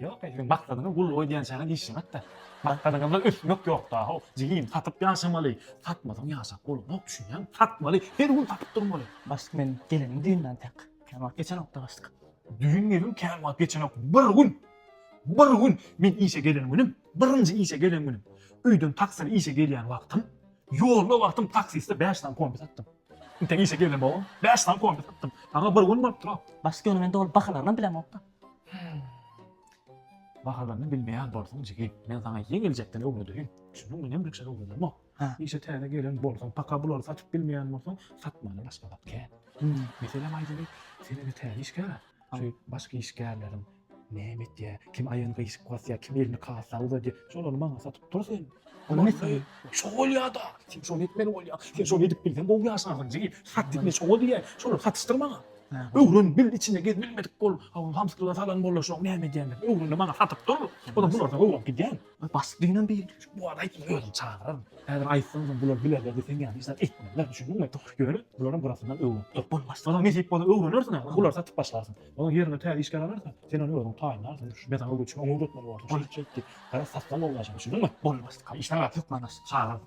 Ýok ey seň maksadyňa gul boý diýençäňe diýişemok-da. Maksadyňyzda ösmek ýok da-how. Jigim, satyp ýaşamaly. Satmasaň ýaşap bolanok, düşünýäňmi? Satmaly, her gün satyp durmaly. Başlyk men gelenim düýnden tek. Kän wagt geçenok-da başlyk. Düýn welin kän wagt geçenok. Bir gün! Bir gün! Men işe gelen günüm, birinji işe gelen günüm. Öýden taksili işe gelýän wagtym, ýolda wagtym taksiste bäş sany kombi satdym. Entek işe gelenbogaň, bäş sany kombi satdym. Saňa bir gün bolupdyr-ow. Başlyk ýöne men doly bahalarynam bilemok-da. Bahalaryny bilmeýän bolsaň jigim, men saňa ýeňiljekden öwredeýin. Şunuň bilen birje öwrenemok. Işe täze gelen bolsaň, paka bulary satyp bilmeýän bolsaň, satmany başga zat kän. Meselem aýdaly, sen indi täze işgär-ä. Şu başga işgärleriň näme etýär, kim aýagyny gyýşyp basýar, kim elini kassa uzadýar, şolary maňa satyp dur sen. Olam etmeli. Şo bolýa-da. Sen şony etmeli bolýaň. Sen şony edip bilseň gowy ýaşarsyň jigim. Sat diýme, şoňa diýýän. Şolary satyşdyr maňa. Öwren bil içinde gez bilmedik bol hawa hamsyklyga salan bolla şoň näme edýändir öwrende maňa satyp dur onam bulardan öwrenip gidýän bas diňem bil bu adam aýt özüm çagyraryn häzir aýtsaň sen bular bilerler diýseň ýa hiç zat etmezler düşündiňmi ýöne bularam burasyndan öwrenip dur bolmaz soň nesip bolsa öwrenersiň ha bulary satyp başlarsyň onuň ýerine täze işgär alarsyň sen ony özüň taýynlarsyň men saňa öwretjek oňa öwretmeli borsuň şeýtdi garaz satsaň bolmaz düşündiňmi bolmaz işden gaty hökman çagyraryn